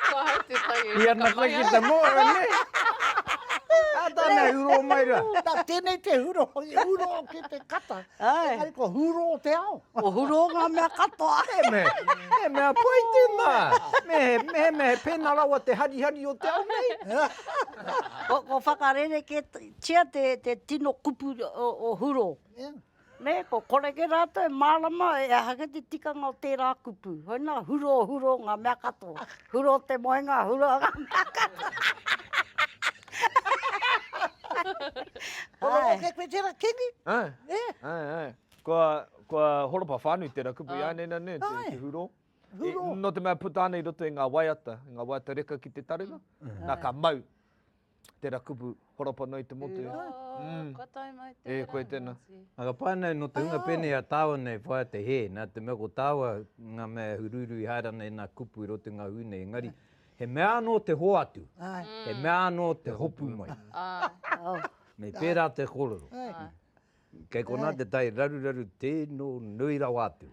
Kua hau te tai e whakamahi ai. I ana koe ki te moana nei. Ka tāna e hurō mai rā. Tēnei te hurō, hurō ki te kata. Engari ko hurō te ao. Kua hurō ngā mea katoa. He mea, he mea pai tēnā. Me he, me he mea he pēnā rawa te harihari o te ao nei. Ko, ko whakarerekētia te, te tino kupu o, o hurō. Nē, ko koreke rātou e mārama e aha kē te tikanga o tērā kupu. Hoi nā, hurō, hurō ngā mea katoa. Hurō te moenga, hurō ngā mea katoa. Ai. Ko roto kē koe tērā kingi. Ai, ai, ai. Kua, kua horopa whānui tērā kupu i a Anena, nē, te, te hurō. Hurō. E, no te mea puta ana i roto i ngā waiata, i ngā waiata reka ki te taringa, mm. nā ka mau tērā kupu horopa noa i te motu. Hurō, mm. kua tai mai tērā. E, koe tēnā. Nā ka pāna no te hunga pēnei a tāua nei whaia te hē, nā te mea ko tāua ngā mea huruuru i haera nei nā kupu i roto i ngā hui nei, engari, yeah. he mea anō te hoatu, Ai. he mea anō te hopu mai. Ai. Nei pērā te kororo. Ai. Kei konā te tai raruraru tēno nui rawa atu.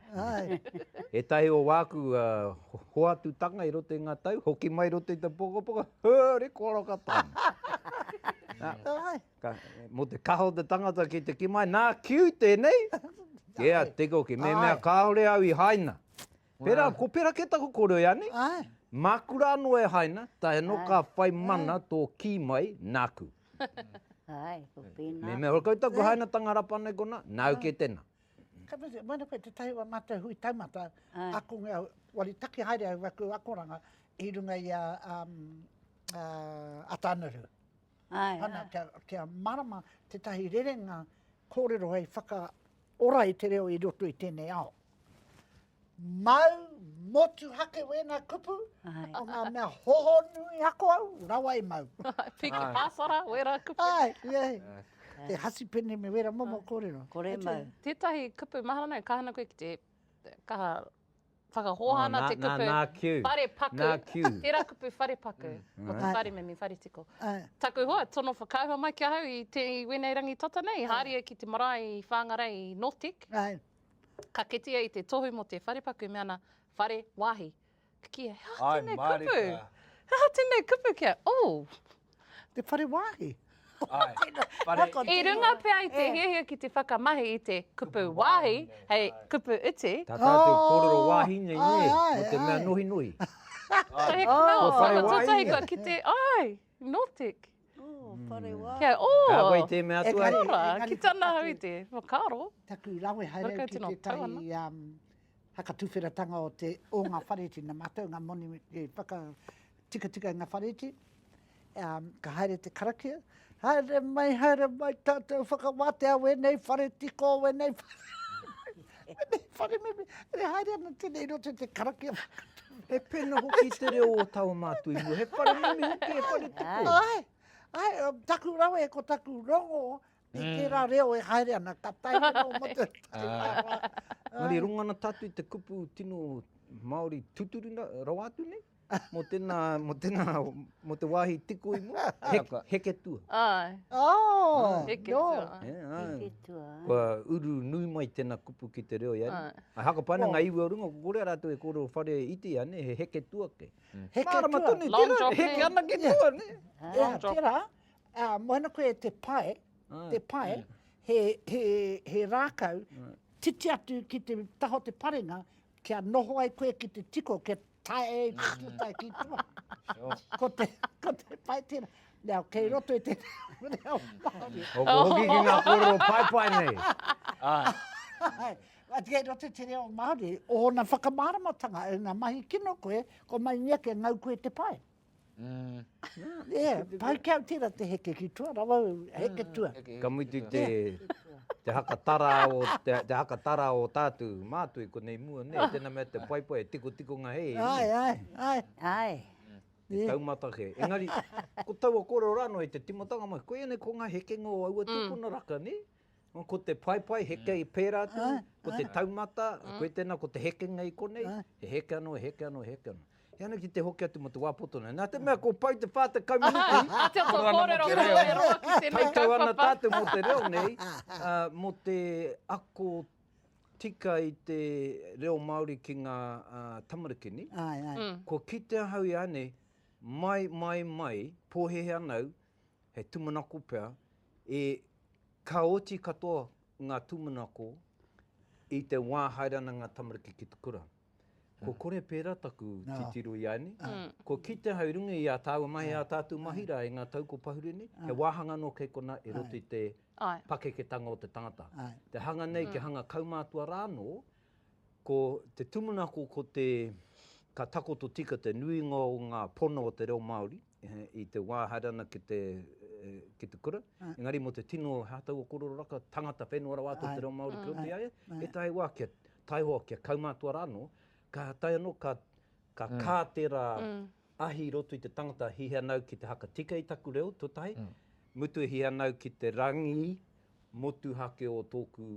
Ētahi o wāku hoatutanga i roto i ngā tau, hoki mai i roto i te pokopoko, huri koro ka taunga. Mō te kaha o te tangata ki te kī mai, nā, kiu tēnei! Kē a Te Koki, me mea kāore au i haina. Pērā, ko Peraketa ko Koroiani, māku rā anō e haina, tae anō ka whai mana tō kī mai, nāku. Ae, ko pēnā. Mehemea hoki koutou ko hainatanga rapa nei konā, nāu kē tēnā. Ka mutu, e mana koe te tahi o mātou hui taumata, ako nge au, wari taki haere au aku akoranga i runga i a Ataanaru. Ana, kia marama tētahi rerenga kōrero hei whakaora i te reo i roto i tēnei ao. Mau, motuhake wēnā kupu, ko ngā mea hohonui ako au, rawa e mau. Piki pāsara, wērā kupu. Ai, ia he. Te hasi pene me wērā momo kōrero. Kore mau. Tētahi kupu, mahara nei, ka hana koe ki te, ka whakahōhā ana te kupu. Nā, nā, nā, whare paku. Nā, kiu. Tērā kupu whare paku, ko te whare mimi whare tiko. Taku hoa, tono whakaahua mai ki ahau i wēnei rangi tata nei, haria ki te marae i Whāngarei i Nortec. Ai. Ka kitea i te tohu mo te wharepaku me ana whare wahi. Ki he aha tenei kupu? He aha tenei kupu kia, ooh! Te whare wahi. I runga pea i te hiahia ki te whakamahi i te kupu wahi hei kupu iti. Ta tatou korero wahi nei ne, mo te mea nohinohi. Ko he kamau o whanga tutahi kua kite ai, Nortec. Kia ora! Ka koe i te mea atua. Kia ora! Ki tana hau i te. Ka ora. Taku rawe haere ki tetahi whakatuwheratanga o te, o nga whareti, na matou nga moni i whakatikatika i nga whareti, ka haere te karakia, Haere mai, haere mai tatou whakawatea wenei whareti ko wenei whareti. Meme, whare meme, e haere ana tenei i roto i te karakia whakatau. He pena hoki te reo o taua mātou ingoa. He whare meme hoki, he whare tuku. Ai, ai, taku rawe e ko taku rongo, me mm. tērā reo e haere ana, ka tae ana o motu. Mari, rongana tātou i te kupu tino Māori tuturina rawa atu nei? Mō tēnā, mō tēnā, mō te wāhi tiko i mua, heke, heke tua. Ai. Oh, heke no. tua. Yeah, ai. Heke tua. Kua uru nui mai tēnā kupu ki te reo iari. Ai. Ai haka paina ngā iwi o runga, ko kore rātou e kōrero whare iti ane, he heke tua ke. Mm. Heke Mārama tua. Tonu, Long tera, heke ana ke tua, ne? Yeah. Long drop. Tera, uh, moana koe te pae, Ai. te pae, yeah. Mm. he, he, he rākau, Ai. titi atu ki te taho te parenga, kia noho ai koe ki te tiko, kia tae i te pūtai ki tua. Ko te, ko te pai tēnā. Nā, kei roto i te reo Māori. Hoko hoki ki ngā kōrero paepae nei. Ai. Ai, kei roto i te reo Māori, ōna whakamāramatanga, e ngā mahi kino koe, ko mai ngia ke ngau koe te pae. Pai ki au tērā te heke ki tua, rawa au, heke tua. Ka mutu te hakatara o tātou mātui konei mua, nē, tēnā mea te paepae, e tikotikonga hei e ia. Ai, ai, ai. Ai. Te taumata kē. Engari, ko taua kōrero rānō i te tīmatanga mai, koianei ko ngā hekenga o aua tūpuna raka, nē? Ko te paepae, heke i pērā atu, ko te taumata, koe tēnā, ko te hekenga i konei, he heke anō, he heke anō, he heke anō. He ana ki te hoki atu mō te wā poto nei. Nā te mea kua pau te 40 minuti, āta kōrero mō te reo, e roa ki tēnei kaupapa. Tautau ana tātou mō te reo nei, mō te ako tika i te reo Māori ki ngā tamarikini. Kua kite ahau ianei, mai, mai, mai, pōhēhē ana au, he tūmanako pea, e ka oti katoa ngā tūmanako i te wā haere ana ngā tamariki ki te kura. Ko kore pērā taku titiro i a ēnei, kua kite ahau i runga i ā tāua mahi, ā tātou mahi rā i ngā tau kua pahuri nei, he wāhanga anō kei konā i roto i te pakeketanga o te tangata. Te hanga nei, kia hanga kaumātua rā anō, ko te tūmanako ko te, ka takoto tika te nuinga o ngā pono o te reo Māori, i te wā haere ana ki te, ki te kura, engari mō te tino hātau o kōrero raka, tangata whenua rawa atu o te reo Māori kei roto i a ia, he tahi wā kia taihoa, kia kaumātua rā anō, ka taea anō, ka, ka kā tērā ahi i roto i te tangata, he hea nāu ki te haka tika i taku reo, tō tahi, mutu he hea nāu ki te rangi motuhake o tōku,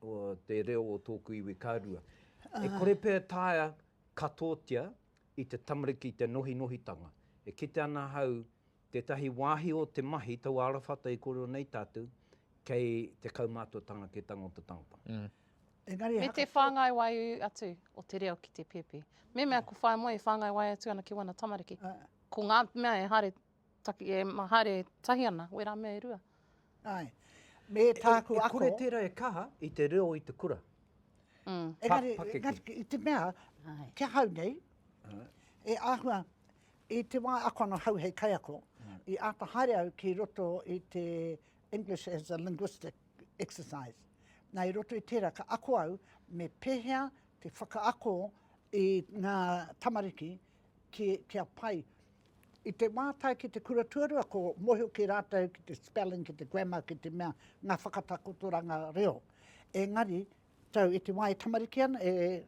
o te reo o tōku iwi, ka rua. E kore pea e taea katoatia i te tamariki i te nohinohitanga. E kite ana ahau tētahi wāhi o te mahi taua arawhata i kōrero nei tātou, kei te kaumātuatanga ki te tango o te tangata. Engari, Me te whāngai wai atu o te reo ki te pēpi. Me mea ko whaemoe e whāngai wai atu ana ki wana tamariki. Ko ngā mea e haere Taki, e haere tahi ana, wera mea e rua. Ae, me tāku ako. E kore tera e kaha i te reo i te kura. Mm. Engari, engari, i te mea, kia hau nei, e ahua, i te wā ako ana hau hei kaiako, mm. i āta haere au ki roto i te English as a linguistic exercise. Nā, i roto i tērā, ka ako au me pēhea te whakaako i ngā tamariki ki, kia pai. I te wā tae ki te kura tuarua, ko mōhio ki rātou ki te spelling, ki te grammar, ki te mea, ngā whakatakotoranga reo. Engari, tau, i te wā e tamariki ana, e,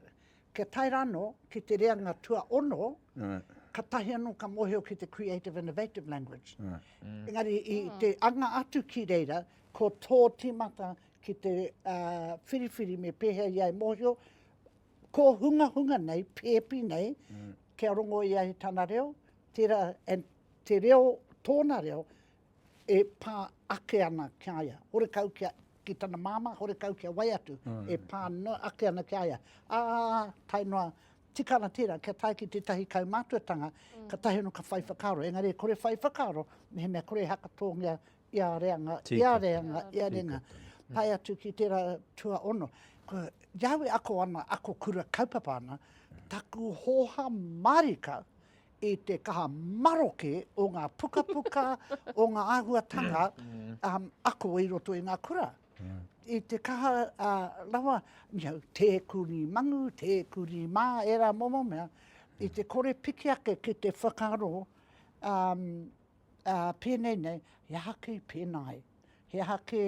kia tae rāno ki te reanga tuaono, right. ka tahi anō ka mōhio ki te creative innovative language. Right. Mm. Engari, i mm. te anga atu ki reira, ko tō tīmata ki te uh, whiriwhiri me pēhea ia e mōhio, kōhungahunga nei, pēpi nei, kia rongo ia i tana reo, tērā, and te reo, tōna reo, e pā ake ana ki a ia. Horekau kia, ki tana māmā, horekau kia wai atu, e pā noa ake ana ki a ia. Ā, tae noa, tika ana tērā, kia tae ki tētahi kaumātuatanga, katahi anō ka whai whakaaro. Engari e kore whai whakaaro, mehemea kore e hakatōngia Ia reanga, ia reanga, ia reanga. Pai atu ki tera tua ono. Ko Yahweh ako ana, ako kura kaupapa ana, taku hoha marika i te kaha maroke o nga puka puka, o nga ahuatanga mm. um, ako i roto i nga kura. Mm. I te kaha uh, lawa, miau, te kuri mangu, te kuri mā, era momo mea, i te kore piki ake ki te whakaro um, Ā, pēnei nei, he aha kei pēnā ai? He aha kē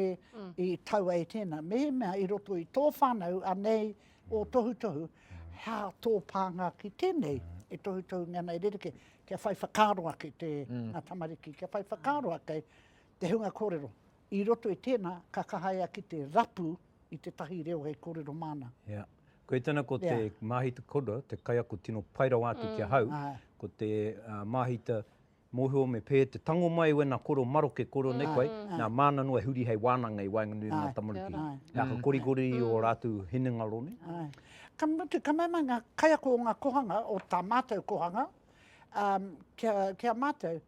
i tau ai tēnā? Mehemea i roto i tō whānau anei ō tohutohu, hea tō pānga ki tēnei e tohutohu nei ana e rerekē, kia whai whakaaro ake te, ngā tamariki, kia whai whakaaro ake te hunga kōrero. I roto i tēnā, ka kaha ia ki te rapu i tētahi reo hei kōrero māna. Hea. Koia tēnā ko te māhita, ko Rod, te kaiako tino pai rawa atu ki ahau, ko te māhita Mōhio me pē te tango mai wena koro maroke koro nei koe, nā māna noa e huri hei wānanga i waenganui i ngā tamariki. He aha korikori i ō rātou hinengaro nei? Ka mutu, ka mea mai ngā kaiako o ngā kohanga, o tā mātou kohanga, ki a mātou,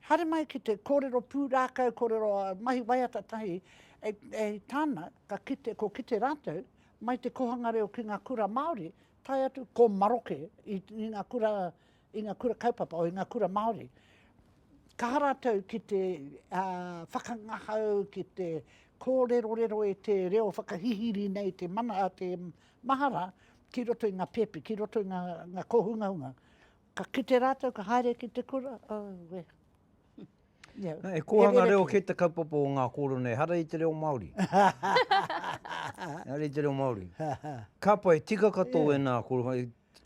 haere mai ki te kōrero pūrākau, kōrero mahi waiata tahi, e tāna, ka kite, ko kite rātou, mai te kohanga reo ki ngā kura Māori, tae atu ko maroke i ngā kura i ngā kura kaupapa o i ngā kura Māori. Kaha rātou ki te uh, whakangahau, ki te kōrerorero e te reo whakahihiri nei te, mana, a te mahara ki roto i ngā pēpi, ki roto i ngā, ngā kōhungahunga. Ka kite rātou, ka haere ki te kura, oh, we. Yeah. E kōhanga reo ki te kaupapa o ngā kōrero nei, hara i te reo Māori. hara i te reo Māori. Kāpai, tika katoa yeah. e nā kōrero,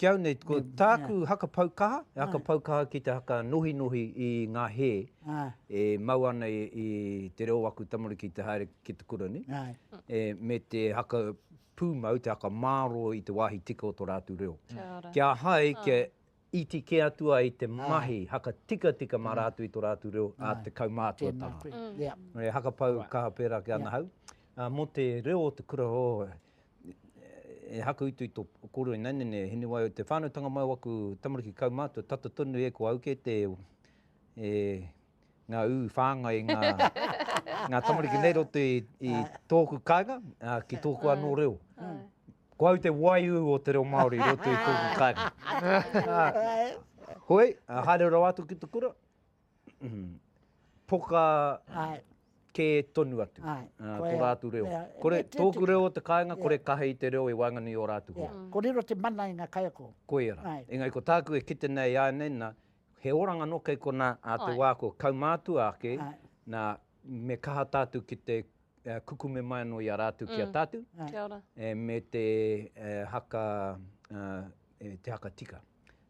Kiau nei, ko tāku haka pau kaha, he haka pau kaha ki te haka nohinohi i ngā hē e mau ana i te reo o aku tamariki te haere ki te kura nei, me te haka pūmau, te haka māro i te wāhi tika o tō rātou reo. Kia hai, kia iti kē atu ai te mahi haka tikatika mā rātou i tō rātou reo a te kaumātuatanga. He haka pau kaha pērā ki ana hau. Mō te reo o te kura, oh, e haku i tui to koro i naine nei hini wai o te whanau tanga mau aku tamariki kaumatua tata tonu e ko au ke te e nga u whangai nga nga tamariki nei roto i i toku kainga ki toku ano reo ko au te wai u o te reo maori i roto i toku kainga hoi haere rawa atu ki te kura poka kē tonu atu, tō rātou reo. Kore, tōku reo o te kāinga, kore kaha i te reo e waenganui i ō rātou hoa. Ko riro te mana i ngā kaiako. Koia rā. Engari ko tāku e kite nei i a nei, nā, he oranga anō kei konā ā te wā kua kaumātua ake, nā, me kaha tātou ki te kukume mai anō i a rātou ki a tātou. Kia ora. Me te haka, te haka tika,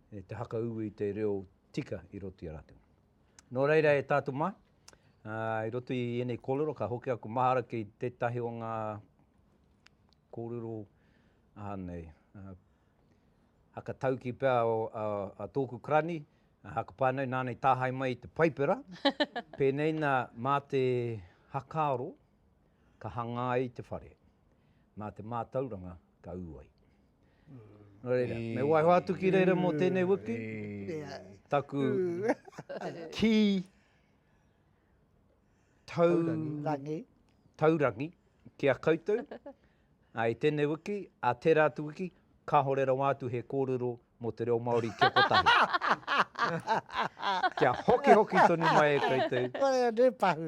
te haka ū i te reo tika i roto i a rātou. Nō reira e tātou mā, i roto i ēnei kōrero, ka hoki aku mahara ki tētahi o ngā kōrero aha nei, hakatauki pea o a, a tōku karani, a hakapānau nānei tāhai mai i te paipera, pēnei nā mā te hakaaro ka hangā ai te whare, mā te mātauranga ka ū ai. Nō reira, me waiho atu ki reira mō tēnei wiki, taku kī taurangi, taurangi ki a koutou, ā, i tēnei wiki, ā tērā atu wiki, kāore rawa atu he kōrero mō te reo Māori kia kotahi. Kia hokihoki tonu mai e koutou. Koia, tē pahu.